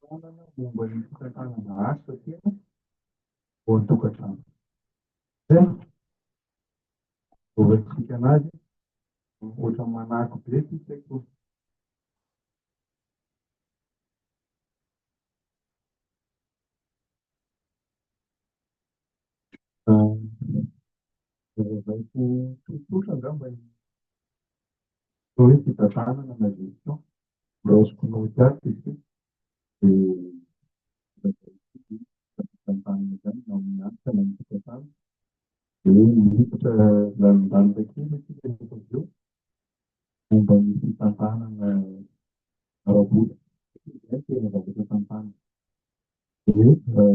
Fanohanana momba ny fantanana asa tena ao an-tokantrano. Tena azahoantsika an'ady ankoatra ny manako be ity sekoly. Lazalaiko tsotsotra angamba ny Atao hoe fitazanana na gestion, raosiko noty ato satria dia fitantanana izany na amin'ny hanitra na ny fitantana. Dia miditra lalindanika kely isika rehefa avy eo momba ny fitantanana ara-bola satria izay tena zavatra tantana. Dia hoe.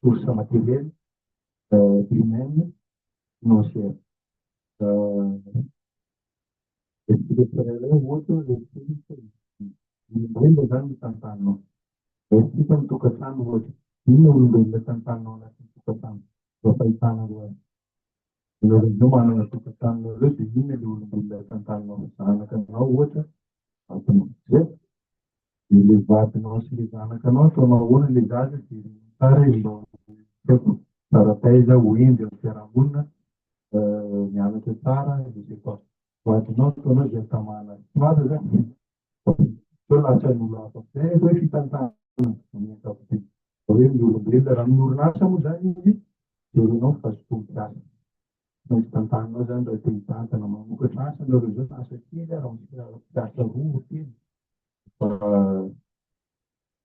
source matérielle, humaine, financière. Olombelona zany ny tantanao. Resaka ny tokantrano ohatra, inona olombelona tantanao anatin'ny tokantrano mba fahitanareo azy. Ianareo indray manana tokantrano nareo dia inona ilay olombelona tantanao, zanakanao ohatra Vatonao dia dia le vadinao sy le zanakanao ataonao ahoana le zaza dia tsara izy mba ho tsara taiza ho hendry amin'ny fiarahamonina mianatra tsara je sais pas vadinao ataonao izay hatamana azy tsy marina zany sao lasan'olo hafa zay ny atao hoe fitantanana amin'ny ankapobeny hoe ny olombelona raha amin'ny orinasa moa zany izy jerenao fa tsy tompon'asa Raha hitantananao izany raha te hitantana mamokatra asa ianareo izao na asa kely ary misy mpiasa roa telo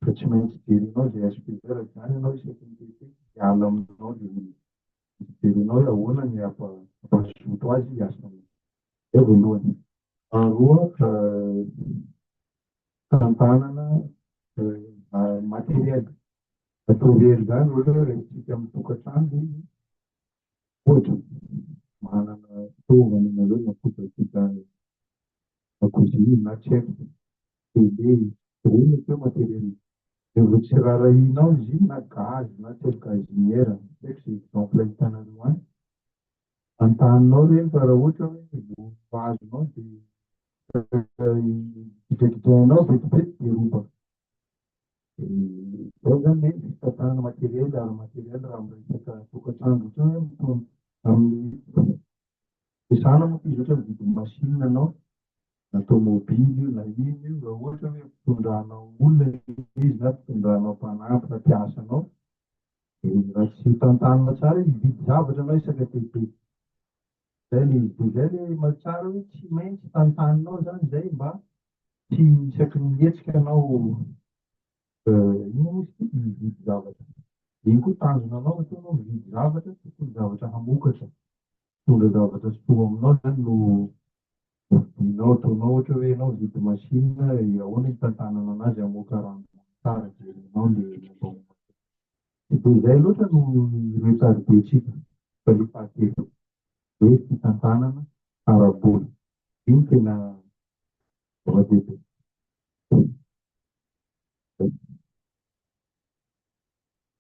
dia tsy maintsy jerenao izay SPV izany ianao isaky ny TT hiala aminao dia jerenao hoe ahoana ny hampazoto azy hiasa aminao. Izay voalohany. Faharoa, fitantanana materiel. Atao very izany ohatra hoe resintsika amin'ny tokantrano dia Ohatra, manana fitaovana ianareo na kojakoja dakozia na tsy haiko, tele, ireo mety hoe matériel, dia vao tsy raharahianao izy iny na gaz na tsy haiko gazinière, tsy haiko izay exemple ahitanareo any, antaninao ireny fa raha ohatra hoe vao azonao dia gidragidrainao vetivety dia robaka. Dia izay izany hoe fitantanana materiel ara materiel raha miresaka tokantrano ohatrany hoe amin'ny mizana moa izy ohatra hoe mividy machine ianao na tomobily io na inona io raha ohatra hoe mpitondranao olona ilay izy na mpitondranao mpanampy na mpiasa anao dia raha tsy tantanina tsara izy hividy zavatra ianao isaka dia be Zay le izy, de zay le maha tsara hoe tsy maintsy tantaninao zany zay mba tsy isaky ny mihetsika anao inona moa izy ity mividy zavatra, de iny koa tanjona anao ohatra anao mividy zavatra tokony zavatra hamokatra, mitondra zavatra soa aminao zany no vidianao, ataonao ohatra hoe enao mividy machine ahoana hitantanana anazy hamoaka rano tsara, jerenao le momba momba an'le machine. Tsy dia izay loatra no resarin-dRehetra eto fa io fahatelo hoe fitantanana ara-bola. Io no tena zava-dehibe.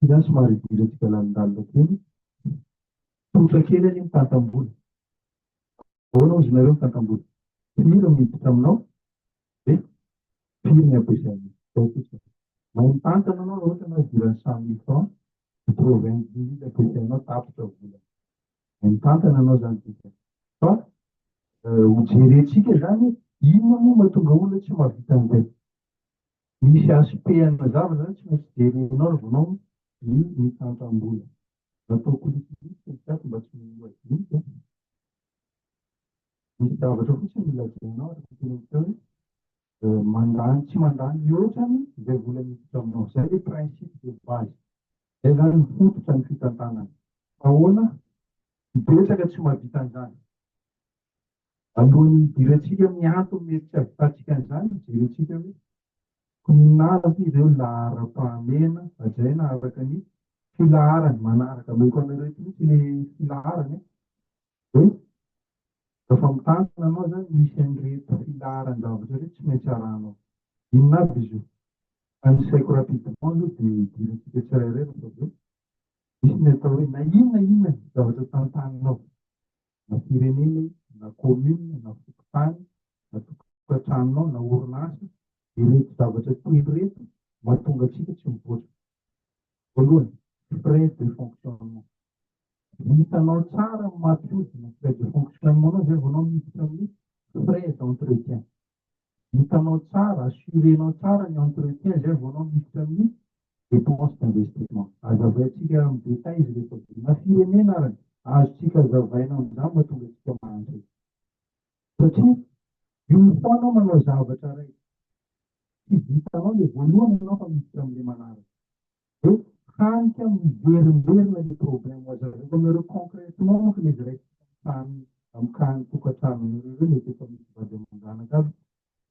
Ity zany somary hidirantsika lalindalina kely. Tsotra kely anie mitantam-bola. Ahoana hozy nareo mitantam-bola? Firy no miditra aminao? dia firy ny ampiasain'izy ireo kosa. Mahay mitantana ianao raha ohatra ianao idiran'ny cent mille francs, quatre-vingt dix mille ampiasainao tapitra ny volana. Mahay mitantana ianao izany dikany. Fa ho jerentsika izany hoe inona moa mahatonga olona tsy mahavita an'izay. Misy aspect ana zavatra izany tsy maintsy jerenao raha vao ianao ny mitantana-bola. Natao kolikoliko ny chat mba tsy ho adino. Misy zavatra fotsiny no lazainao ary tokony hatao hoe mandany tsy mandany mihoatra ny izay vola miditra aminao. Izay ilay principe de base. Izay izany ny fototra ny fitantanana. Ahoana ny betsaka tsy mahavita an'izany. Alohan'ny hidirantsika amin'ny antony mety tsy hahavitantsika an'izany, jerentsika hoe inona avy ireo laharam-pahamehana hajaina araka ny filaharany manaraka. Omeko anareo eto mihitsy ilay filaharany. Hoe rehefa mitantana anao zany misy an'ireto filaharan-javatra ireto tsy maintsy arahanao. Inona avy izy io? Tanisaiko rapidement aloha dia idirantsika tsirairay rehefa avy eo. Misy ny atao hoe na inona na inona zavatra tantaninao, na firenena io, na commune, na fokontany, na tokantranonao, na orinasa, ireto zavatra telo ireto mahatonga antsika tsy mivoatra. Voalohany, frais de fonctionnement. Vitanao tsara ny mampiodina ny frais de fonctionnement-nao izay vao anao miditra amin'ny frais d'entretien. Vitanao tsara, assurer-nao tsara ny entretien izay vao anao miditra amin'ny dépense d'investissement. Azavaintsika amin'ny détails izy rehefa na firenena ary, azontsika azavaina amin'izany mahatonga antsika mahantra. satria io foana manao zavatra iray tsy vitanao le voalohany ianao fa miditra amle manaraka de hany ka miverimberina le problème aza zareo nareo concrètement manko le izy iray tany am kany tokatranony reo mety efa misy vady aman-janaka aby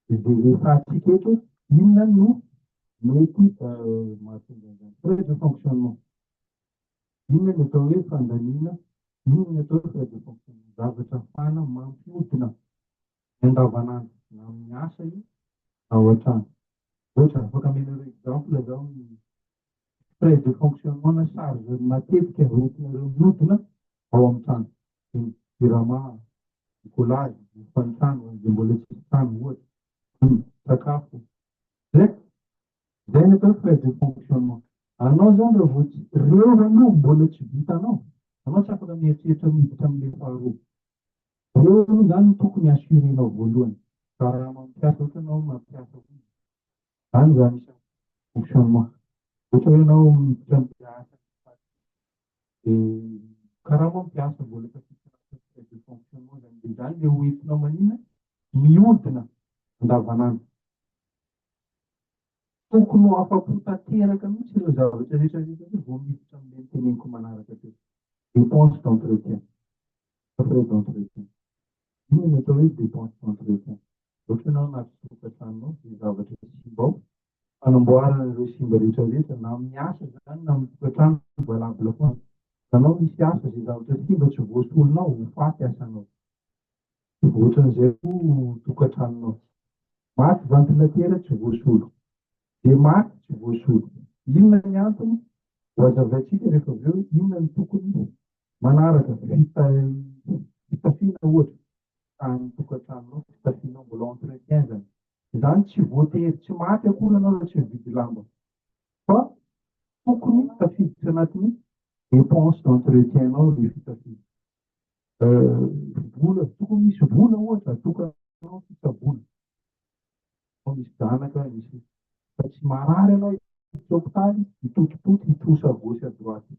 de zay resatsika eto inona no mety mahatonga an'zany problème de fonctionnement Inona ny atao hoe fandaniana? Inona ny atao hoe frais de fonctionnement? Zavatra ahafahana mampiodina ny andavanandro na amin'ny asa io na ao an-trano. Ohatra, afaka amenareo exemple zaho ny frais de fonctionnement na charge matetika hoentinareo miodina ao amin'ny trano. Ny jirama, ny collage, ny fanitrano, izay mbola tsisy trano ohatra, ny sakafo. Zay, Izay no atao hoe frais de fonctionnement. Anao izany raha vao tsy, reo aloha mbola tsy vitanao, anao tsy afaka mieritreritra miditra amin'ilay faharoa. Reo aloha izany no tokony assurer-nao voalohany. Fa raha mampiasa ohatra ianao mampiasa olona, izany izany isan'ny fonctionnement. Ohatra hoe ianao miditra amin'ilay asa dia karaha mampiasa mbola efa tsy anatin'ny frais de fonctionnement izany. Dia izany ilay hoentinao manina, mihodina andavanandro. Tokony ho afa-po tanteraka mihitsy ireo zavatra rehetra rehetra ireo vao miditra amin'ilay noteneniko manaraka teo. Dépenses d'entretien, frais d'entretien. Inona no atao hoe dépenses d'entretien? Ohatra ianao hamatsy tokantranonao, dia zavatra simba ao, fanamboarana ireo simba rehetra rehetra, na amin'ny asa izany na amin'ny tokantrano, valable foana. Ianao misy asa, izay zavatra simba tsy voasolonao, ho faty asanao. Tsy voatran'izay koa no tokantranonao. Maty vantilatera tsy voasolo. Dia maty tsy voasolo. Inona ny antony? Ho hazavaintsika rehefa avy eo inona no tokony manaraka. Fitafiana ohatra. Tany tokantranonao, fitafianao, mbola entretien izany. Izany tsy voatery tsy maty akory ianao raha tsy mividy lamba. Fa tokony tafiditra anatin'ny dépenses d'entretien-nao ilay fitafiana. Vola, tsy tokony hisy vola ohatra atokanao fitsaboana fa misy zanaka ny sisa fa tsy marary ianao etsy hopitaly hitotototo hitrosa à gauche à droite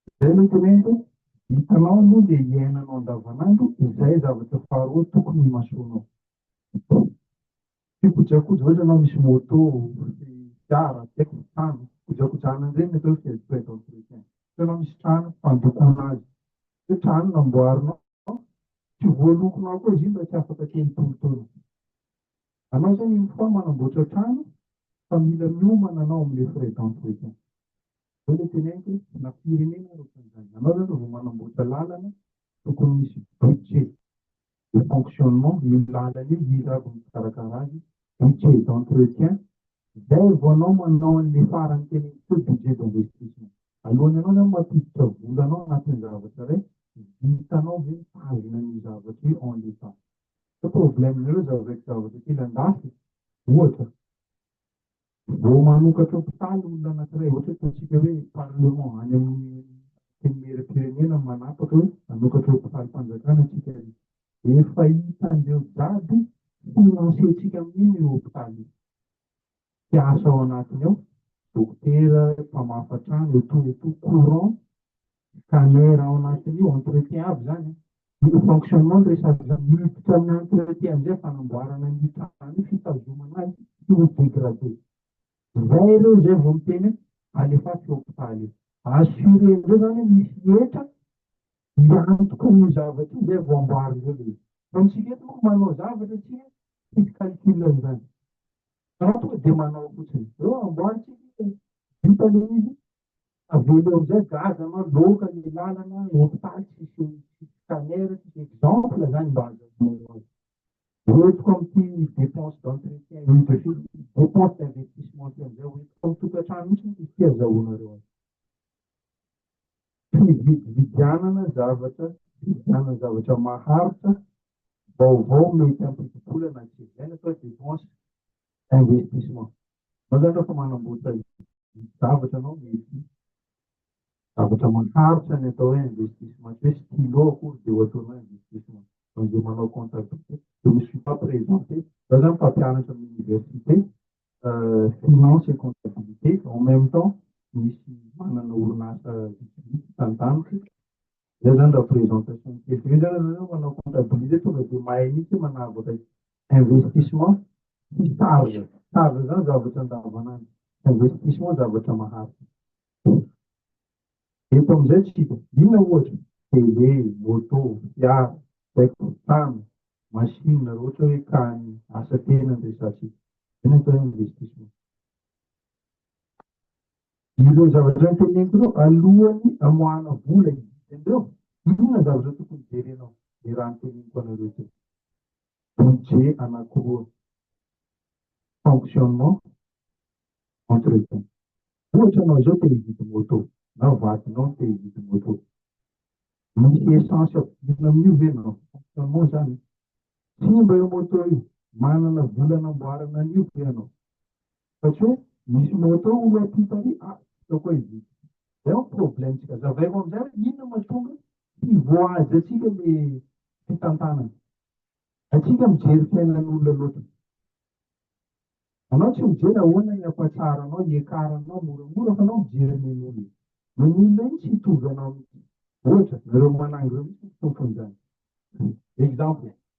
izay ilay teneniko hoe hitanao aloha le hiainanao andavanandro izay zavatra faharoa tokony himasoanao Tsy kojakoja ohatra anao misy moto, misy fiara, tsy haiko, trano, kojakojana an'ireny ny atao hoe frais frais d'entretien. Ohatra anao misy trano, fandokoana azy. Hoe trano namboarinao, tsy voalokonao koa izy iny raha tsy afaka teo ny tolotolo. Anao izany une fois manamboatra trano fa mila miomana anao amin'ilay frais d'entretien. Izao ilay teneniko hoe na firenena ary ohatran'izany. Anao izany raha vao manamboatra lalana tokony misy budget. de fonctionnement, io lalana io, iza avy no mpikarakara azy, budget d'entretien, zay vao anao manao anle farany teny amiko hoe budget d'investissement, alohan'ny anao zany mampiditra vola anao anatin'ny zavatra iray, vitanao ve mitazona an'io zavatra io en l'état? Fa problème-nareo zavatra kely andafy, ohatra, Vao manokatra hopitaly olona anankiray, ohatra hoe ataontsika hoe parlement any amin'ny antenimieram-pirenena no manapaka hoe hanokatra hopitalim-panjakana isika ary efa hitan'ireo jiaby financer-tsika amin'iny io hopitaly io. Mpiasa ao anatiny ao, dokotera, mpamafa trano, etoa etoa, courant, Caner ao anatin'io entretien aby zany an, io fonctionnement no resaka zany, miditra amin'ny entretien amizay fanamboarana an'io trano io, fitazomana azy tsy ho degradé, zay ireo zay vao miteny hoe alefaso hopitaly io, assurer ndreo zany hoe misy hetra hiantoka an'io zavatra io zay vao amboary ndreo le izy, fa amintsika eto manko manao zavatra tsika tsisy calcul an'izany, fa tonga dia manao fotsiny, reo amboary tsika vita le izy Avela eo amizay gazy anao loka ny lalana hopitaly tsisy scanner tsisy exemple zany mba azahoanareo azy. Hoentiko amty depense d'entretien depense d'investissement ty amizay hoentiko am tokatrano mitsy moa izy ty azahoanareo azy. Fividividianana zavatra fividianana zavatra maharitra vaovao mety ampidi-bola na tsy ilaina fa depense. investissement. Mazatra fa manamboatra zavatra anao mety zavatra maharitra ny atao hoe investissement tsy hoe stylo akory dia ho ataonao investissement fa izay manao comptabilité je me suis pas présenté za zany mpampianatra amin'ny université finance et comptabilité en même temps misy manana orinasa vitsivitsy tantaniko zay zany raha présentation kely zay zany manao comptabilité tonga dia mahay mihitsy manavaka investissement sy charge, charge zany zavatra andavanandro, investissement zavatra maharitra. Eto amin'izay tsika, inona ohatra? Télé, moto, fiara, zay ko, trano, machine raha ohatra hoe ka ny asa tena no resahantsika, zay no atao hoe investissement. Ireo zavatra noteneniko ireo alohan'ny amoahana vola hividy an'ireo, inona ny zavatra tokony jerenao, le raha noteneniko anareo teo. budget anakiroa fonctionnement entretien ohatra anao zao te hividy moto na vadinao te hividy moto misy essence ampidirina amin'io ve na fonctionnement zany simba io moto io manana vola namboarana an'io ve ianao Satria hoe misy moto hono aty Italie, ah hitako hoe izy ity. Zay no problème-tsika. Zavaiko amin'izay hoe inona no mahatonga tsy voahaja antsika ilay fitantanana. Antsika mijery fiainan'olona loatra. Anao tsy mijery ahoana ny ampatsaharanao, hiakaranao moramora fa anao mijery nen'olona. Nen'olona iny tsy hitovy anao mihitsy. Ohatra, nareo manangy ireo mihitsy no tompon'izany. Exemple,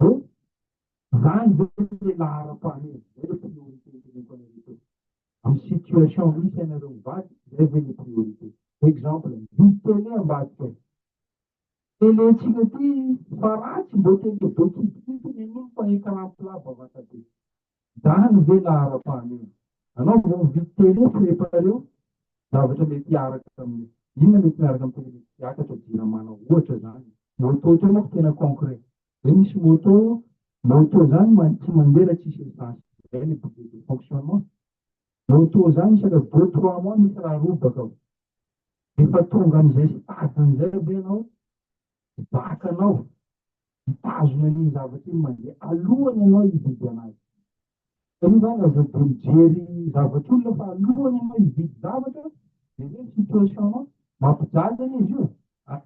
Hoe zany ve le laharam-pahamehana? Zay le priorité iteneniko anareo teo. Am situation misy anareo mivady zay ve le priorité? Exemple, mividy télé ambadika any. Télé-tsika ty fa ratsy mbô télé be kidikidy nen'olo fa écran plat bavata be. Zany ve laharam-pahany eo? Anao vao mividy télé tsy le pareo zavatra mety hiaraka aminy. Inona mety miaraka amin'ny télé mety hiakatra jiramana ohatra zany. Moto teo manko tena concret. Zay misy moto, moto zany man tsy mandeha raha tsisy essence zay le boucle de fonctionnement. Moto zany isaka deux trois mois misy raha robaka ao. Refa tonga amizay stade-ny zay ve anao Mpibahaka anao, mitazona iny zavatra iny mandeha alohany ianao hividy anazy. Hitanao zany raha zao dia mijery zavatr'olona fa alohany ianao hividy zavatra, jereo ny situation-nao, mampijaly anie izy io,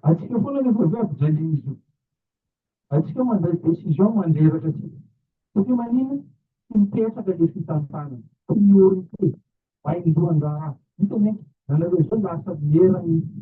antsika foana anefa ve ampijalian'izy io? Antsika mandray décision mandreraka antsika, satria manina? tsy mipetraka ilay fitantanana, priorité, vaindohan-draharaha, hitan'ny ankizy anareo izao lasa miera mihitsy.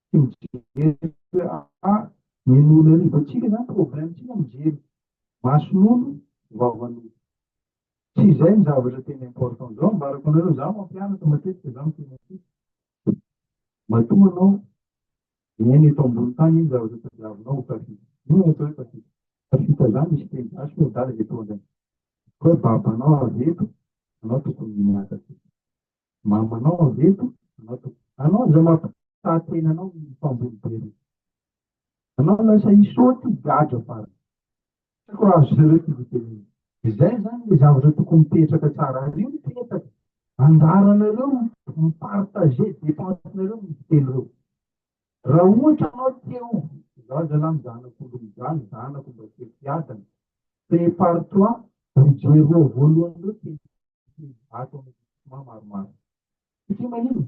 Tsy mijery a! Ny non'arivantsika izany problème-tsika mijery mason'olo vavan'olo. Tsy izay ny zavatra tena important. Zao ambarako anareo, za mampianatra matetika za miteny aty. Matoa anao miaina eto ambony tany iny zavatra tadiavinao ho tafita. Inona no atao hoe tafita? Tafita za misy teny gasy hoe adala dia toa andraikitra. Hoe babanao avy eto, anao tokony miakatra eto. Mama anao avy eto anao to. Anao zao mampitahatena anao ny mpamboly be reo. Anao lasa hisaoty ho gadra farany. Tsy haiko raha azonareo ty hotenenina. Izay zany le zavatra tokony mipetraka tsara ary io no petaka. Anjaranareo mi-partager depense-nareo mividy telo reo. Raha ohatra ianao te ho, izaho zalah ny zanako olo mijaly, ny zanako mba tsy am-piadana, prépare-toi ho joe roa voalohany ireo teny ato amin'ny groupement maromaro. Satria manino?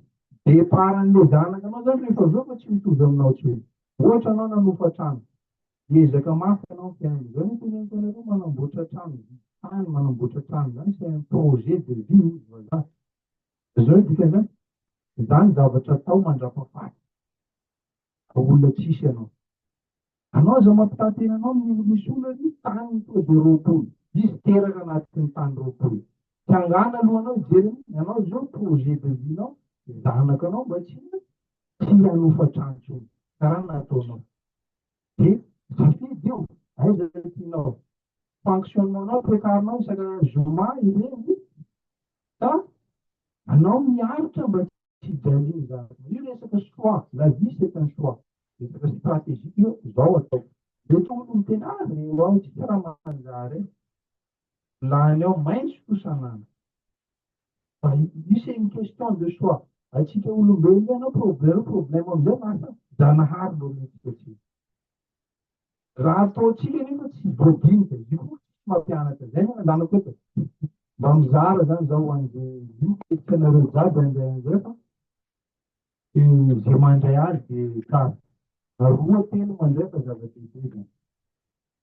Départ an'ilay zanaka anao izany rehefa avy eo fa tsy mitovy aminao tsy hoe. Ohatra ianao nanofa trano, hiezaka mafy ianao ny fiainana, izao no teneniko anareo manamboatra trano, mividy tany, manamboatra trano izany c'est un projet de vie hoy ny vazaha. Izao ny dikan'izany, izany zavatra atao mandrapahafaty fa olona tsisy ianao. Anao aza mampitantena anao ny misy olona ny tany tonga dia roapolo, izy teraka anaty ny tany roapolo. Tsy angano aloha anao hijery an'iny, anao izao projet de vie nao, ny zanakanao mba tsy tsy hanofa trano intsony. Karaha ny nataonao. Dia safidy io, aiza no tianao. Fonctionnement-nao, toekarinao isaka zoma ireny ka anao miaritra mba tsy hijaly ny zavatra. Io resaka choix, la vie c'est un choix. Resaka stratégie io, izao ataoko. Dia ohatra olo miteny, ah re ho aho tsy raha manjary e. Lany ao maintsy kosa anana. Misy une question de choix. Antsika olombelona ianao problème problème amin'izay lasa Zanahary no ometsika tsiny. Raha ataontsika nefa tsy voadinika, izy io koa tsy mampianatra izay no ananako eto. Mba mizara izany izao ho an'izay miketrika anareo jiaby indray indray fa dia izay mandray azy dia tsara. Roa telo mandray fa zava-dehibe izany.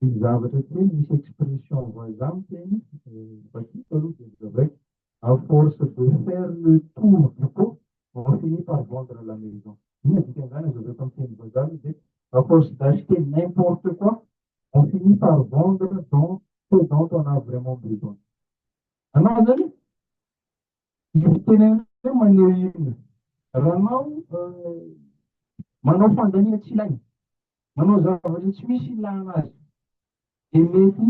Ny zavatra tsy hoe misy expression vazaha miteny vakiko aloha dia zavaiko à force de faire le tour du pot on finit par vendre la maison inona dikan'izany azavaiko amin'ny teny vazaha aloha dia à force d'acheter n'importe quoi on finit par vendre dans ce dont on a vraiment besoin anao zany Ny tenenanareo maneho inona? Ranao manao fandaniana tsy ilaina, manao zavatra tsy misy ilana azy, dia mety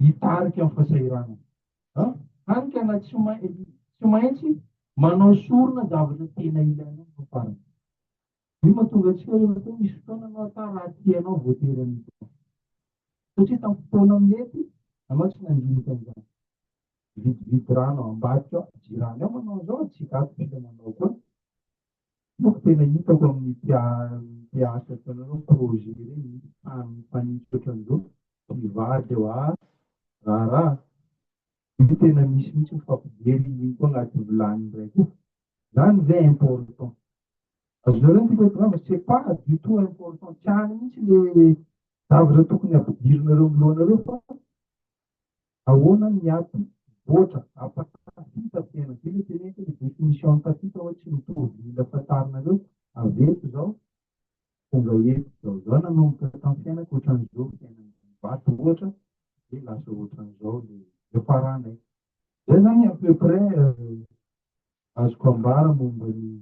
hitarika amin'ny fahasahiranana. Hany ka na tsy maintsy manao sorona zavatra tena ilaina no farany. Io mahatonga antsika hoe matoa misy fotoana anao ata raha tianao voatery an'izany. Satria tamin'ny fotoana mety anao tsy nandinika an'izany. mividividy rano ao ambadika ao, jirany ao manao an'izao ary tsy gadra isika manao koa, io no tena hitako amin'ny mpiasa eto anareo projet ireny misy tany mifanitsy ohatran'izao, mpivady eo aa, raharaha, io tena misy mihitsy ny fampijery iny koa anaty vilany indray koa, izany ve important? Azonareo ny tiako hatongava, c'est pas du tout important, tsy any mihitsy le zavatra tokony hampidirinareo amin'ny lohanareo fa Ahoana ny ady voatra ampatahita tena, zay le teneniko le definition ampatahita hoe tsy mitovy mila fantarinareo, averiko zao, tonga eto zao, zah nanomboka tam fiainako otran'izao fiainana vato ohatra de lasa otran'izao le fiafaranay, zay zany à peu près azoko ambara momba ny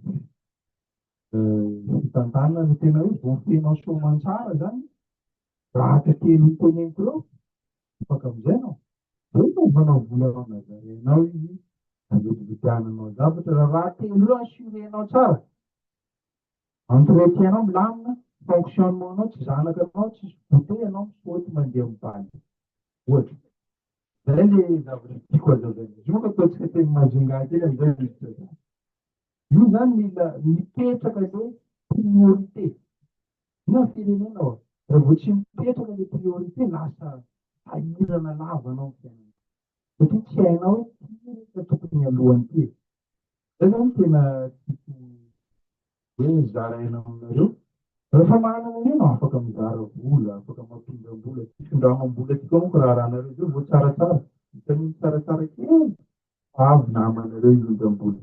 fitantanana tena hoe voafenao soamantsara zany Zaka kely ho teneniko reo afaka mizaina ô! Zay no manao vola reo nazarenao izy nanodididiananao zavatra ra raha telo reo assurenao tsara entretien nao milamina fonctionnement nao tsy zanaka nao tsisy goute enao misaoty mandeha mibaly ohatra zay le zavatra tiako hazavainao izy io manko ataontsika teny majunga kely amizay Io zany mila mipetraka le priorité. Inona ny firenena oa? Raha vao tsy mipetraka le priorité lasa sahirana lava anao ny fiainana. Satria tsy hainao hoe ty ve no tokony mialoha an'ity e. Zay zany no tena tiako hoe zaraina aminareo. Rehefa manana an'io no afaka mizara vola, afaka mampindram-bola, fitondram-bola ty koa manko raharahanareo zay vao tsaratsara, vitan'iny tsaratsara kely Bravo namanareo indrindra ambony.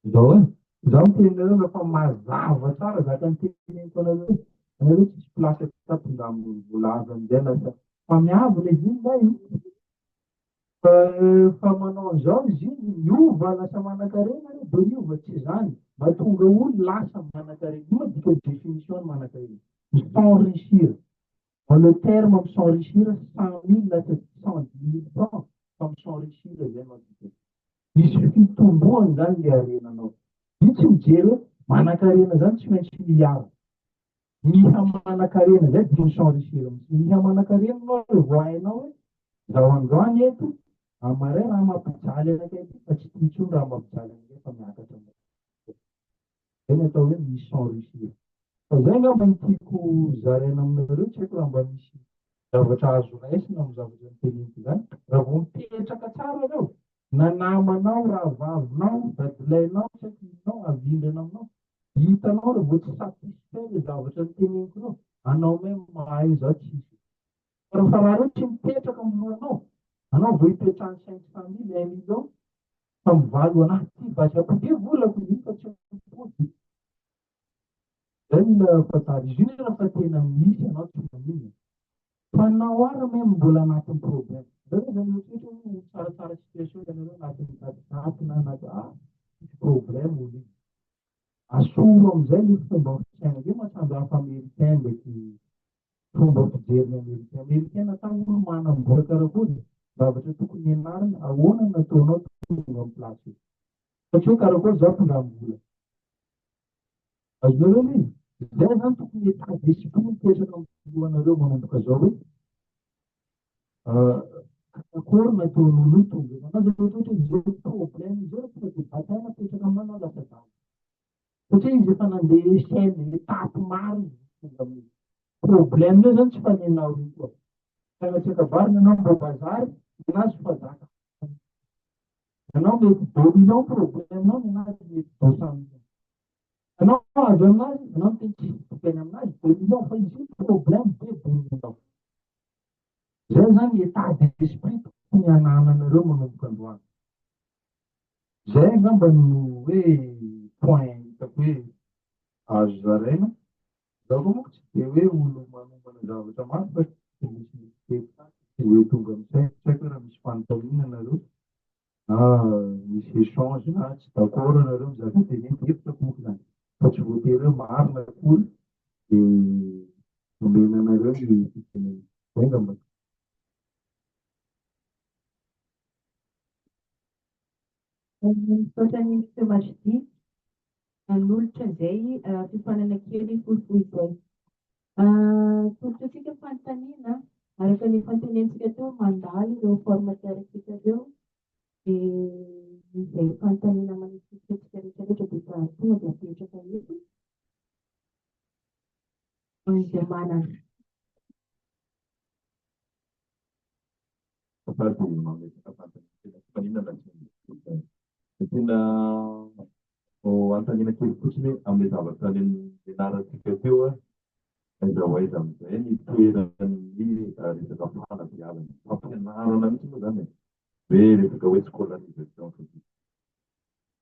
Izao eh, izaho miteny anareo na fa mazava tsara zaka niteneniko anareo eh, anareo tsisy place aty fa tonga amin'ny voalaza amin'izay lasa mpamiavo le ziny va eh? Fa efa manao an'izao ny ziny, miova lasa manankarena re, de miova tsy zany, mahatonga olo lasa manankarena, inona dikany definition ny manankarena? Mi s'enrichir. En le terme am s'enrichir cent mille na cent dix mille francs fa mi s'enrichir zay no adikany. Misy fitomboany zany le harenanao. Io tsy mijery hoe manankarena zany tsy maintsy miaro. Miha manankarena zay dia mi s'enrichir mihitsy. Miha manankarena anao revô vao hainao hoe zaho andro any eto, am marais raha mampijaly anakay ty fa tsy tia intsony raha mampijaly anakay fa miakatra. Izay ny atao hoe ny sans rusure. Fa izay angamba no tiako zaraina aminareo, tsy haiko raha mba misy zavatra azo raisina amin'ny zavatra noteneniko izany. Raha vao mipetraka tsara ianao, na namanao, rahavavinao, dadilahinao, tsy haiko inonao, havindrina aminao, hitanao raha vao tsy satisfait ilay zavatra noteneniko ireo, anao may mahay izaho tsy hisy. Fa raha raha ireo tsy mipetraka amin'ny lohanao, anao vao ipetrahan'ny cinq cent mille, un million, Tamin'ny valo anaty tsy baisako be volako iny fa tsy mipody. Zay mila fantaro izy io raha fa tena misy ianao tsy maninona. Fa na ho ary même mbola anatin'ny problème. Zay hoe zany mieritreritra hoe ho tsaratsara situation ianareo anatin'ny daty daty na anaty ah misy problème olona. Asoro amin'izay ny fomba fisainany. Io mantsy andraso Americain ndraiky fomba fijery ny Americain. Americain natao olo manam-bola karakory? Zavatra tokony hianarana, ahoana no nataonao tonga amin'ny place io? Satria hoe karakory za mpindram vola. Azonareo ve? Izay zany tokony état d'esprit mipetraka amin'ny filohanareo manomboka zao hoe. Akory ny ataon'oloto zay namana zay ohatra izy zao problème izy zao tonga de bataille apetraka amana lasa zany satria izy efa nandeha échelle étape maro izy tonga aminy problème eo zany tsy fanenao io koa mpianatreaka vary nanao mba bazary nenazy fazaka nanao mety dominant problème nao nenazy mety dosamina Anao avy aminazy, anao no teny tsisy tokany aminazy, dia mino fa izy io no problème be dia aminao. Izay izany état d'esprit tokony hanananareo manomboka androany. Izay angamba no hoe point hitako hoe azo zaraina. Za koa manko tsy dia hoe olo manomana zavatra mafy fa tsy dia misy misy teny tsy hoe tonga amin'ny saiko, tsy haiko hoe raha misy fanontaniana nareo. na misy échange na tsy d'accord nareo amin'ny zavatra teneniko, hevitra monko zany fa tsy voatery hoe marina akory de omena anareo ny fitenenana. Zay ngamba. Misaotra an'i Monsieur Majdi. nanolotra izay fiofanana kely fohifohy izay. Atolotra antsika fanontaniana, araka ny efa notenenintsika teo, mandalo ireo forme teoriques ireo, dia izay fanontaniana manesikesika antsika rehetrarehetra dia efa tonga dia apetraka eto. Izay manana. Tantara dia mametraka vatana ny tena fifaninana sy ny kolontsaina. Ny tena vao hanontaniana kely fotsiny hoe amin'ilay zavatra nianarantsika teo, aiza ho aiza amin'izay ny toeran'ny resaka fanabeazana, fampianarana mihitsy moa izany e, hoe resaka hoe scolarisation fotsiny.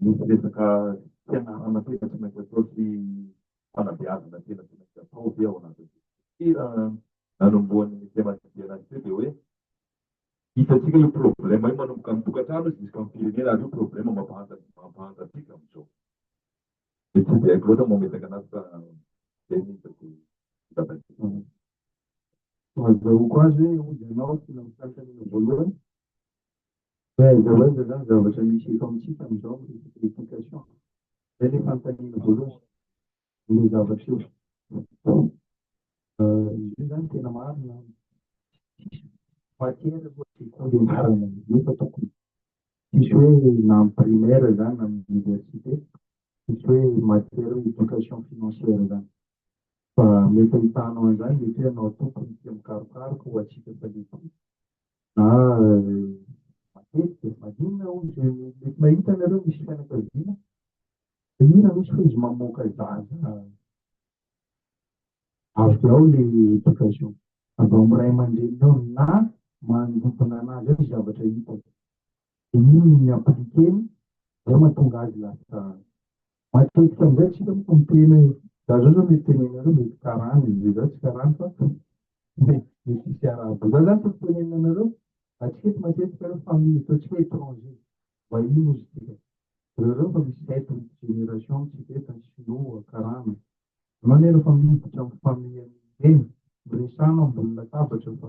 Misy resaka fianarana tena tsy maintsy atao sy fanabeazana tena tsy maintsy atao ve ao anatin'ny dokotera? Nanombohan'ny Nicema Didier teo dia hoe hitantsika io problème io manomboka amin'ny tokantrano jusqu'amin'ny firenena ary io problème mampahanta mampahanta antsika amin'izao. Dia tsy dia haiko loatra mametaka anazy fa izay no hitako zava-dehibe. Azahoako azy hoe hoy ianao tsy nanontany taminao voalohany. Mba aiza ho aiza zany zavatra misy eto amintsika amin'izao miresaka éducation. Zay le fanontaniana voalohany. Le zavatra eo. Io zany tena marina an. Tsisy matière aloha sekoly ianarana an'io fa tokony tsisy hoe na amin'ny primaire zany na amin'ny université tsisy hoe matière hoe éducation financière zany. Fa mety ahitanao an'izany mety hoe ianao tokony tia mikarokaroka ho antsika fa le ary matetika maninona hoy izay mety mahita anareo misy fianakaviana maninona misy hoy izy mamoaka zaza avy ao le éducation avy ao amin'ny ray aman-dreninao na manodidina anazy ao ny zavatra hitako de iny ny impliquer-ny zay mahatonga azy lasa matetika amizay tsika moko miteny hoe za zao zao mety tenenanareo mety karana e, za tsy karana fa mety tsy misy arahaba, za zany tokony tenenanareo atsika eto matetika aloha famille eto atsika étranger vahiny ozy tsika reo reo fa misy sept huit génération amitsika eto an, sinoa, karana, anao anie refa miditra am famille any reny miresahana ambony latabatra fa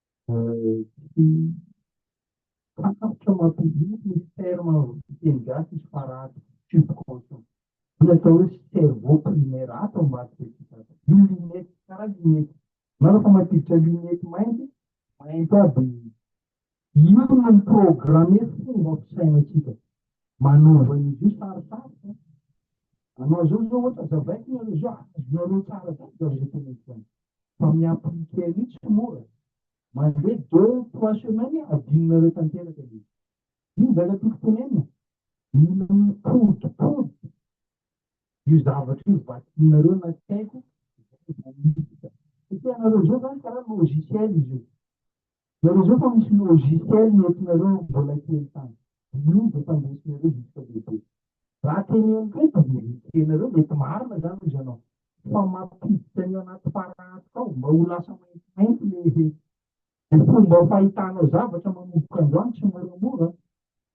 Tsy fantatro mampiditra misy terme fiteny gasy izy fa ratsy subconscient. Io atao hoe cerveau primaire ato ambadika ity tato. Io lunette, karaha lunette. Ianao rehefa mampiditra lunette mainty, mainty aby ny. Io no mi-programme fomba fisainantsika. Manova an'izy io sarosarotra. Anao zao zao ohatra, zavaiko nareo zao, azonareo tsara zany zany izay teneniko zany. fa miampy Ricky mitsy tsy mora mandeha deux trois semaines adinonareo tanteraka le izy iny zaka tiko tenenina mila mipodipody io zavatra io vakinareo na tsy haiko satria anareo zao zany karaha logiciel izy io Jerezao fa misy logiciel noentinareo mbola kely tany de io no tandresinareo jusqu'à lehibe. Raha teneniko eto de verifier nareo mety marina zany hoy zanao fa mampiditra ny anaty paraty tao mba ho lasa maintimainty le he le fomba fahitanao zavatra manomboka andro any tsimoramora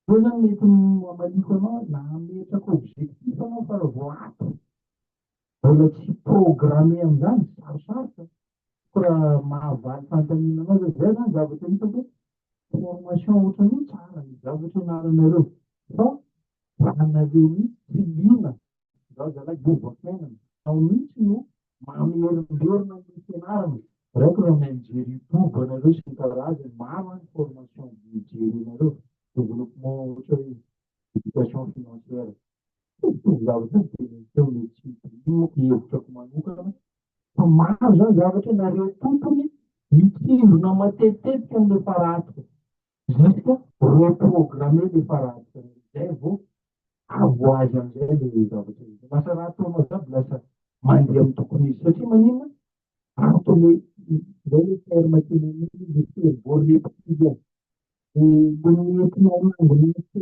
eo zany mety no amaliko anao na ametrako objectif anao fa raha vao ato Mbola tsy programme an'izany, sarosarotra ko raha mahavaly fanontaniana anao zany, zay zany zavatra hitako hoe formation ohatran'io tsara ny zavatra ianaranareo fa anareo mihitsy tsy liana izaho zalahy govafiainana ao mihitsy no mamerimberina ny fianarana raiko raha mahay mijery youtube anareo sy ny karazany maro any formation jerenareo développement ohatra hoe éducation financière toy zavatra io dia ny teo le tsy mitomoko hevitrako manokana fa maro zany zavatra nareo tompony mitsimbina matetitetika le faratika jusque reprogrammer le faratika zay vao avo azy amizay le zavatra izy lasa raha ataonao jiaby lasa mandeha amin'ny tokony izy satria manina antony zay le terme tena mihitsy le cerveau reptilien Manome fiahiana ny sekoly ity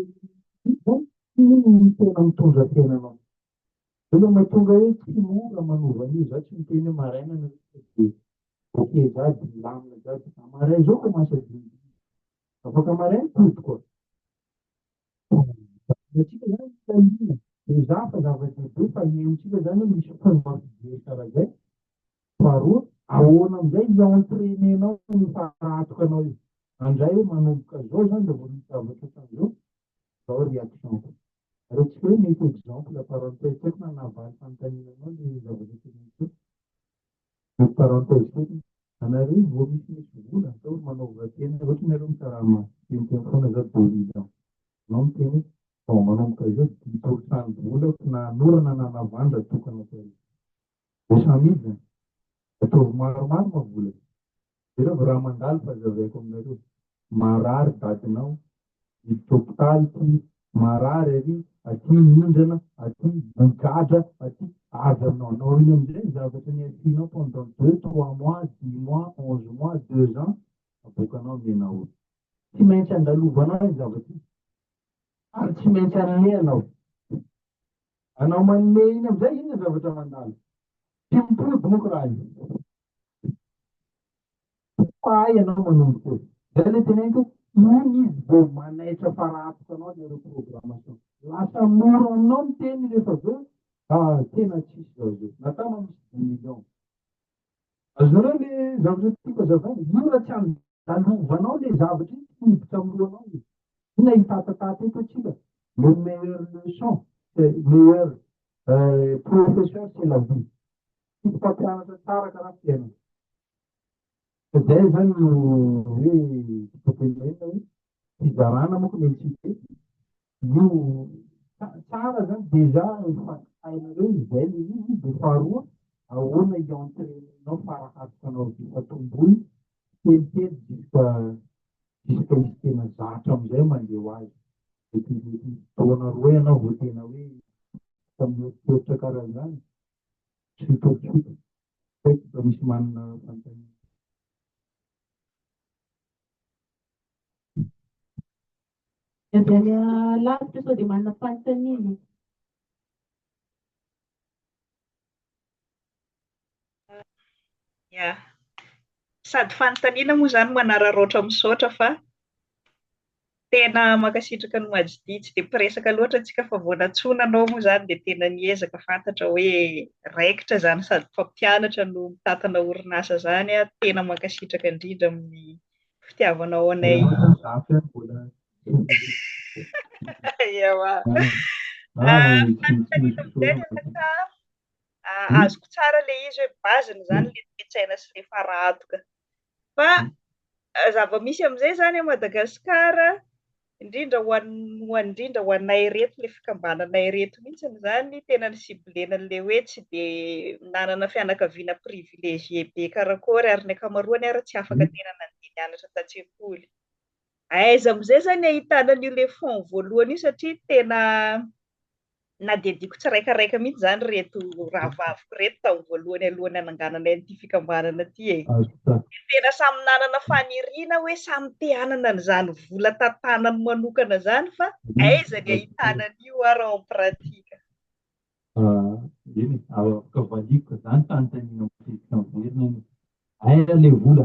izao, iny no tena mitondra tena anao. Zay le mahatonga hoe tsy mora manova an'io, za tsy miteny hoe maraina ny rehetra dia ok za dia milamina jiaby, za maraina zao koa masaky dimy afaka maraina tody koa. Antsika izany fiahiana, mizàha fa zava-dehibe fa ny amintsika izany hoe misy mponina mampijery tsara izay. Faharoa, ahoana amin'izay i-entraîner-nao io fara-hatokanao io. Handray hoe manomboka izao izany dia vao misy zavatra ohatran'izao, izao réaction-ko. Aretintsika hoe mety exemple par rapport tsy haiko na nahavaly fanontaniana anao ilay zava-dehibe. Entre parenthèses fotsiny, anareo vao misy misy vola atao ry manaova tena ohatra ianareo mikarama teniteny foana za deux mille ans anao miteny hoe vao manomboka izao dimy pour cent ny volako na anorana na navandra tokana atao hoe cent mille zany ataovy maromaro ma vola Jereo ve raha mandalo fa zavaiko aminareo marary dadinao miditra hopitaly ty marary ary aty mindrana aty migadra aty avy aminao anao iny amizay ny zavatra niafianao pendant deux trois mois dix mois onze mois deux ans aboakanao am ianao eo tsy maintsy andalovanao iny zavatra iny ary tsy maintsy anome anao anao manome iny amizay iny ny zavatra mandalo ty mipody moko raha io Mpahay ianao manondro koa. Zay le teneniko hoe iny izy vao manaitra fara hatoka anao le reprogrammation. Lasa mora aminao ny teny rehefa avy eo ah tena tsisy zao zao. Natao anao misy dimy millions. Azonareo le zavatra tiako azavaina? Io raha tsy andalovanao le zavatra iny tsy hiditra amin'ny lohanao izy. Inona hitatataty eto atsika? Le meilleur leçon, meilleur professeur c'est la vie. Tiako mpampianatra tsara ka raha fiainana. Izay izany no hoe dipopenina hoe fizarana moa ny entité. Io tsara izany déjà efa hainareo izay ilay izy dia faharoa ahoana i-entrainer-nao faraharitra anao ity fatomboy kelikely juska juska izy tena zatra amin'izay mandeha ho azy. Dia tena hoe taona roa ianao vao tena hoe mieritreritra karaha izany. tsy mifampitsoka. Saika mba misy manana fanontaniana. Ny avy any alavitra sao dia manana fanontaniana? Ya, sady fanontaniana moa izany manararaotra misaotra fa. Tena mankasitraka an'i Majdi, tsy dia mpiresaka loatra tsika fa vao nantsoina anao moa izany dia tena niezaka fantatra hoe raikitra izany sady mpampianatra no mitantana orinasa izany aho, tena mankasitraka indrindra amin'ny fitiavanao anay. Ewa. Azoko tsara ilay izy hoe base-ny izany ilay toe-tsaina sy ilay fara-hatoka. Fa zava-misy amin'izay izany à Madagascar, indrindra ho an ho an indrindra ho anay ireto ilay fikambanana ireto mihitsy izany tena ny ciblena ilay hoe tsy dia nanana fianakaviana privilegié be karakôry ary ny ankamaroany ary tsy afaka tena nandeha nianatra an-tsekoly. Aiza amin'izay izany ahitana an'io ilay fonds voalohany io satria tena Nadediko tsiraikaraika mihitsy izany reto rahavaviko reto tamin'ny voalohany alohan'ny hanangananay an'ity fikambanana ity e. Tena samy nanana faniriana hoe samy te hanana an'izany vola tantanany manokana izany fa hmm. aiza ny ahitana an'io ary ao pratika. Ah, eny, afaka valiko izany fanontaniana matetika miverina eny. Aiza ilay vola?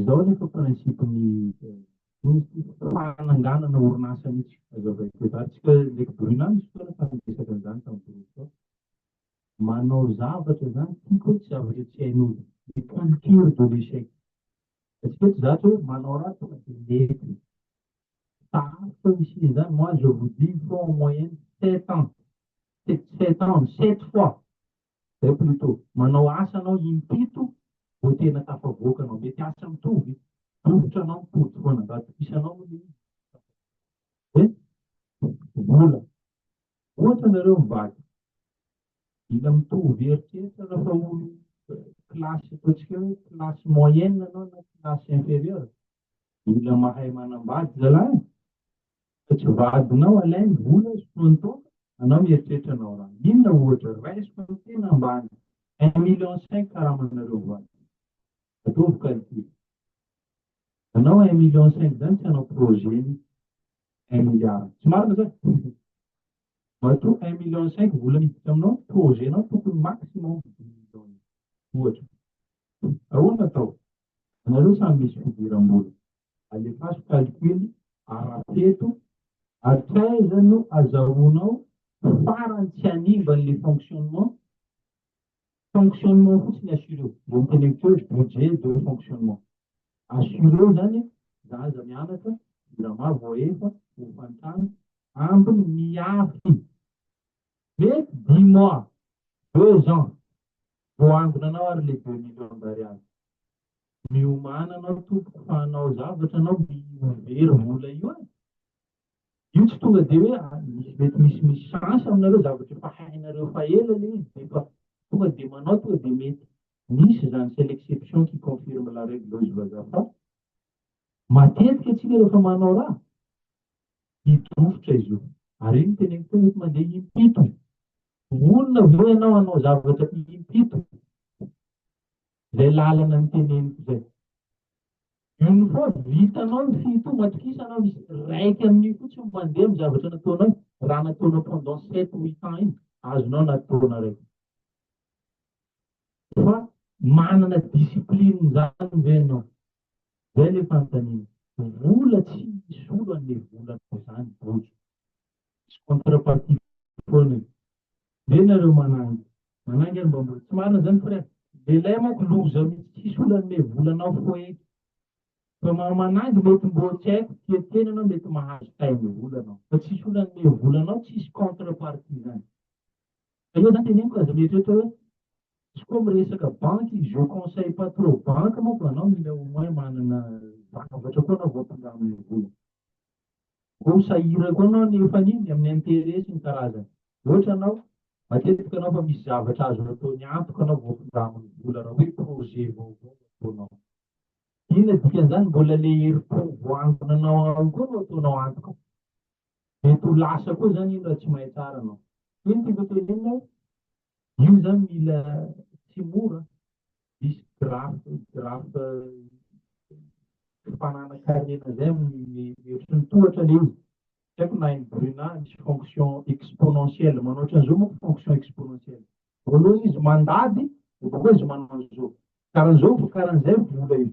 Izao anefa principe ny misy fananganana orinasa mihitsy aza vaiko eto. Ary tsika ndraiky Bruna misy fotoana efa niresaka an'izany tamin'ny Bruna. Manao zavatra izany tiako hoe tsy zavatra tsy hain'olona. Ny culture de l'échec. Atsika eto zatra hoe manao ratsy tonga dia mety. Sarotra ny hisian'ny izany. Moi je vous dis il faut en moyenne sept ans, sept ans, sept fois Zay plutot. Manao asa anao impito vao tena tafavoaka anao. Mety asa mitovy. Dofotra anao mipody foana. Mba atokisanao moa le izy. Dia vola. Ohatra nareo mivaky. Mila mitovy eritreritra rehefa olo classe ataontsika hoe classe moyenne anao na classe inférieure. Mila mahay manambady zalahy fa tsy vadinao alainy vola sy fotoana taona anao mieritreritra anao ra inona ohatra raisiko ny tena ambany un million cinq karamanareo voany ataovy calcul anao un million cinq zany tsy anao projet ny un milliard tsy marina zany matoa un million cinq vola miditra aminao projet nao tokony maximum dix million ohatra ahoana atao Anareo samy misy fidiram-bola, alefaso calcul ara-peto ary taiza no azahoanao farany tsy hanimba an'le fonctionnement? Fonctionnement fotsiny assureo, de noteneniko teo hoe budget de fonctionnement. Assureo zany za aza mianatra, jirama voaefa, hofan-trano, ambiny miafy. Mety dix mois, deux ans, vao angonanao ary le deux millions d'ariary. Miomàna anao tompoko fa hanao zavatra anao mi ho very vola io an! Io tsy tonga de hoe mety misy misy chance aminareo zavatra efa hainareo fa ela le izy defa tonga de manao tonga de mety misy zany c'est l'exception qui confirme la règle hoy Zvaza fa matetika atsika refa manao raha Dito rovitra izy io. Ary iny teneniko teo mety mandeha impito. Vonona ve ianao hanao zavatra impito? Izay lalana niteneniko izay. Une fois vitanao ny fito, matokisa anao misy raiky amin'io fotsiny mandeha amin'ny zavatra nataonao, raha nataonao pendant sept huit ans iny, azonao anaty taona raiky. Fa manana discipline izany ve ianao? Zay le fanontaniana. Vola tsy misy olo hanome vola anao zany Bojo. Misy contrepartie foana io. Ve nareo manangy. Manangy ary mba mbola tsy marina zany frère. Lehilahy manko loza mitsy tsisy olo hanome vola anao foeky. Fa maha manangy mety mboa tsy haiko tia tena anao mety mahazo taim vola anao. Fa tsisy olo hanome vola anao tsisy contrepartie zany. Aleo za teneniko aza mieritreritra hoe izy koa miresaka banky, je conseille pas trop banky manko fa anao mila au moins manana zavatra koa anao vao ampindramina ny vola. Koa sahirana koa anao nefa ny amin'ny intérêt sy ny karazany. Ohatra anao, matetika anao fa misy zavatra azo ataony antoka anao vao ampindramina ny vola raha hoe projet vaovao ataonao. Inona dikan'izany? Mbola le herim-po voangonanao ao koa no ataonao antoka. Mety ho lasa koa zany iny raha tsy mahay tsara anao. Ino tiako hotenenina hoe io zany mila tsy mora an! Misy graph graph fifananankarena zay amin'ny hevitry ny tohatra le izy. Tsy haiko na hain'i Bruna misy fonction exponentielle manao ohatran'izao manko fonction exponentielle. Voalohany izy mandady dia bakeo izy manao an'izao. Karan'izao vo karan'izay vola io.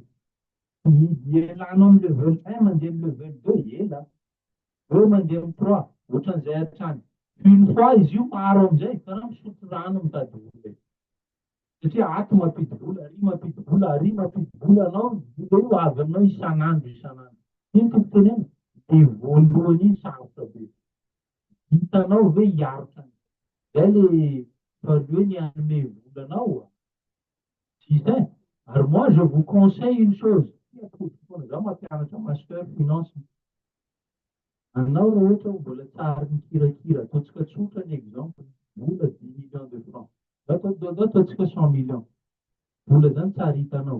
Dia ilanao amin'ny level un mandeha amin'ny level deux ela. Eo mandeha ny proa, ohatran'izay hatrany. Une fois izy io maro amin'izay, karaha misotro rano mitady vola io. Satria ato mampidi-bola, ary mampidi-bola, ary mampidi-bola anao, ny vola io avy aminao isan'andro, isan'andro. Iny no tiako tenenina, dia voalohany iny sarotra be. Vitanao ve hiaroka an'izay? Izay ilay value ny hanome vola anao. Justin, ary moi je vous conseille une chose, tia atody foana, za mampianatra master finance, anao raha ohatra mbola tsy ary mikirakira, ataontsika tsotra ny exemple, vola dix millions de francs, za atao atao ataontsika cent millions, vola zany tsy ary hitanao,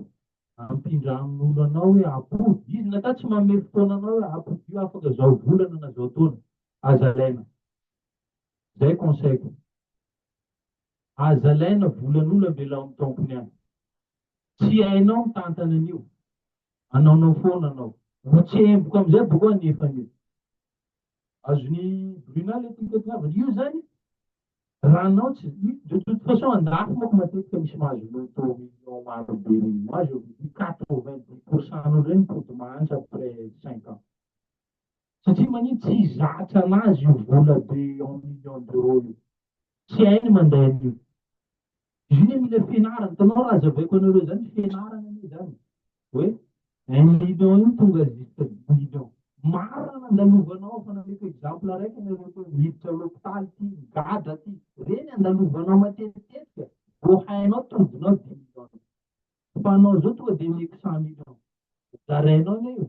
ampindra amin'olo anao hoe apody, izy na ka tsy manome fotoana anao hoe apodio afaka zao volana na zao taona, aza alaina, zay conseil-ko. Aza alaina volan'olo ambelao am tompony any. Tsy hainao mitantana an'io. Anaonao foana anao. Ho tsemboka amizay boko an efa an'io. Azon'i Bruna le teny teto havany io zany raha anao tsy de toute façon andafy manko matetika misy mahazo loto millions maro be reny. Moi je vous dis quatre vingt dix pourcent n'olo reny mipody mahantra après cinq ans. satria manino tsy zatra anazy io vola de en million d'euro io tsy hainy manday an'io izy io ne mila fianarana tanao raha azavaiko anareo zany fianarana ne zany hoe un million io tonga jusque dix million marina nandalovanao fa nameko exemple araiky anareo koa miditra lopitaly ty migadra ty reny andalovanao matetika voahainao todinao dix million Fanao zao tonga de mety cent mille francs zarainao anie io,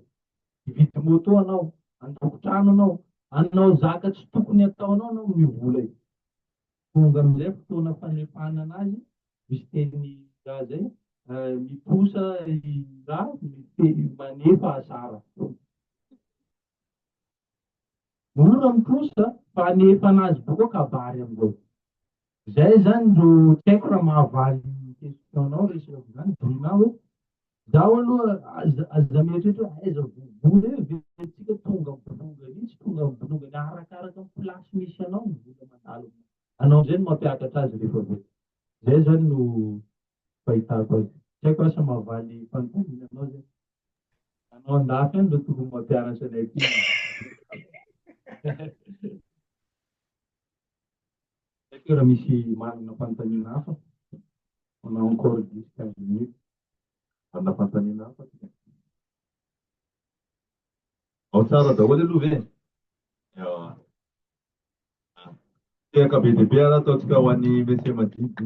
hividy moto anao, handoko trano anao, hanao zaka tsy tokony ataonao anao amin'io vola io. Tonga amizay fotoana fanefanana azy, misy teny raha zay, miposa i ra, manefa asara. Mora ny trosa fa anefana azy boka kabary amzao. Zay zany ro tsy haiko raha mahavaly question nao re sera zany Bruna hoe zaho aloha aza aza mieritreritra hoe aiza vovo re verintsika tonga bolonga ery tsy tonga bolonga ery arakaraka ny place misy anao ny vola mandalo anao amzay no mampiakatra azy rehefa aveo. Zay zany no fahitako azy. Tsy haiko asa mahavaly fanontaniana anao zay. Anao andafy any no tokony mampianatra anay aty. Haiko raha misy manana fanontaniana hafa. On a encore 10 15 minutes. Manana fanontaniana hafa ty. Ao tsara daholo aloha ve? Ewa. Tehaka be dia be ary ataontsika ho an'ny Monsieur Madidi.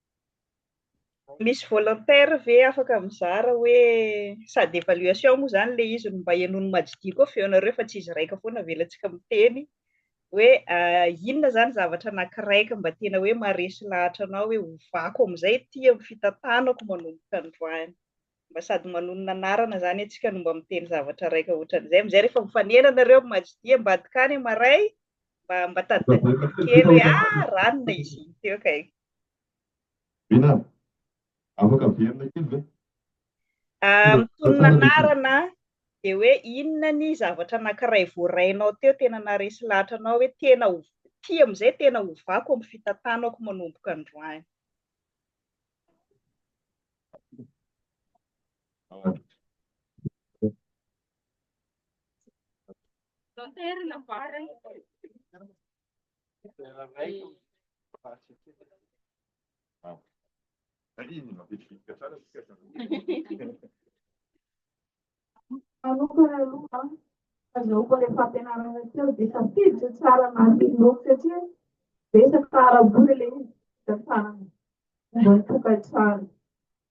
Misy volontaire ve afaka mizara hoe sady évaluation moa izany ilay izy no mba henoin'i Majidi koa feonareo fa tsy izy raika foana avelantsika miteny hoe inona izany zavatra anakiraika mba tena hoe maharesy lahatra anao hoe hovako amin'izay ity amin'ny fitantanako manomboka androany mba sady manonona anarana izany antsika no mba miteny zavatra raika ohatran'izay amin'izay rehefa mifanena nareo amin'i Majidi ambadika any maray mba mba tadidadiana kely hoe ah ranona izy teo kay Vina, afaka averina kely ve? Mitonona anarana dia hoe inona ny zavatra anankiray voarainao teo tena naharesy lahatra anao hoe tena ho tia amin'izay tena hovako amin'ny fitantanako manomboka androany? Manokana aloha an, azahoako ilay fampianarana teo dia tafiditra tsara anaty bloc satria betsaka ara-bola ilay izy, hita tsara ny momba ny tokantrano.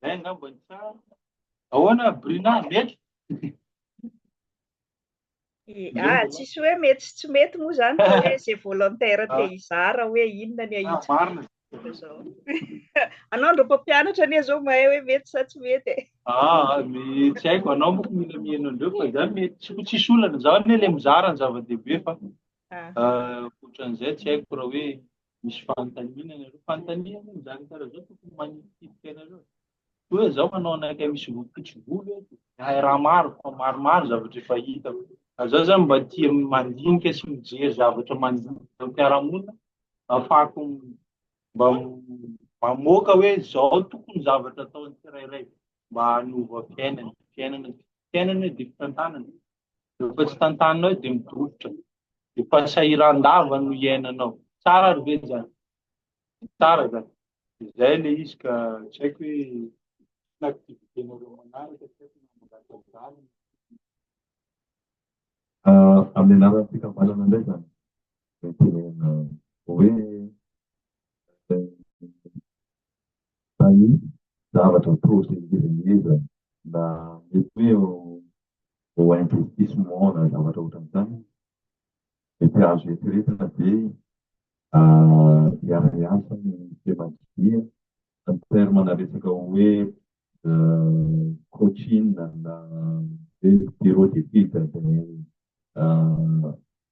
Zay angamba ny tsara. Ahoana Brina, mety? Ah, tsisy hoe mety sy tsy mety moa zany fa hoe ze volontaire te ah. hizara hoe inona ny ahitsy. Ah, marina. Anao ndro mpampianatra anie zao mahay hoe mety sa tsy mety e. Ah, ny tsy haiko anao moa mila mihaino andreo fa zany mety tsy tsisy olana zaho anie le mizara ny zava-dehibe fa ah. ah, ohatran'izay tsy haiko raha hoe Misy fanontaniana ianareo. Fanontaniana moa izany karaha izao tokony manitsidika ianareo. Toa hoe izaho manao anakay misy volompitso volo eto. Hay raha maro fa maromaro zavatra efa hitako. Ary izaho izany mba tia mandinika sy mijery zavatra mandinika am-piarahamonina ahafahako mba mamoaka hoe izao tokony ny zavatra ataon'ny tsirairay mba hanova fiainana. Fiainana, fiainana dia fitantanana. Rehefa tsy tantanina eo dia midorobotra. Efa sahiran-dava no iainanao. Tsara ary ve zany? Tsara zany. Izay le izy ka tsy haiko hoe inona activité-nareo manaraka tsy haiko na mangataka vary. Amin'ny alalan'ny fikambanana indray zany no itenenana hoe. na ny zavatra atao izay ngeza ngeza na mety hoe ho investissement na zavatra ohatran'izany mety azo eritreretina ve hiara-hiasa ny Femadria en terme na resaka hoe coaching na hoe bureau d'étude dia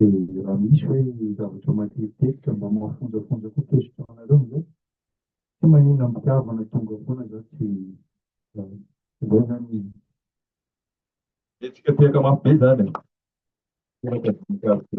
Dia raha misy hoe zavatra matetitetika mba mahafonjafonja koa question anareo amin'izay. Tsy manina am-pitiavana tonga foana za tsy voana amin'iny. Dia tsikiatiaka mafy be izany e. Teraka voninkazo be.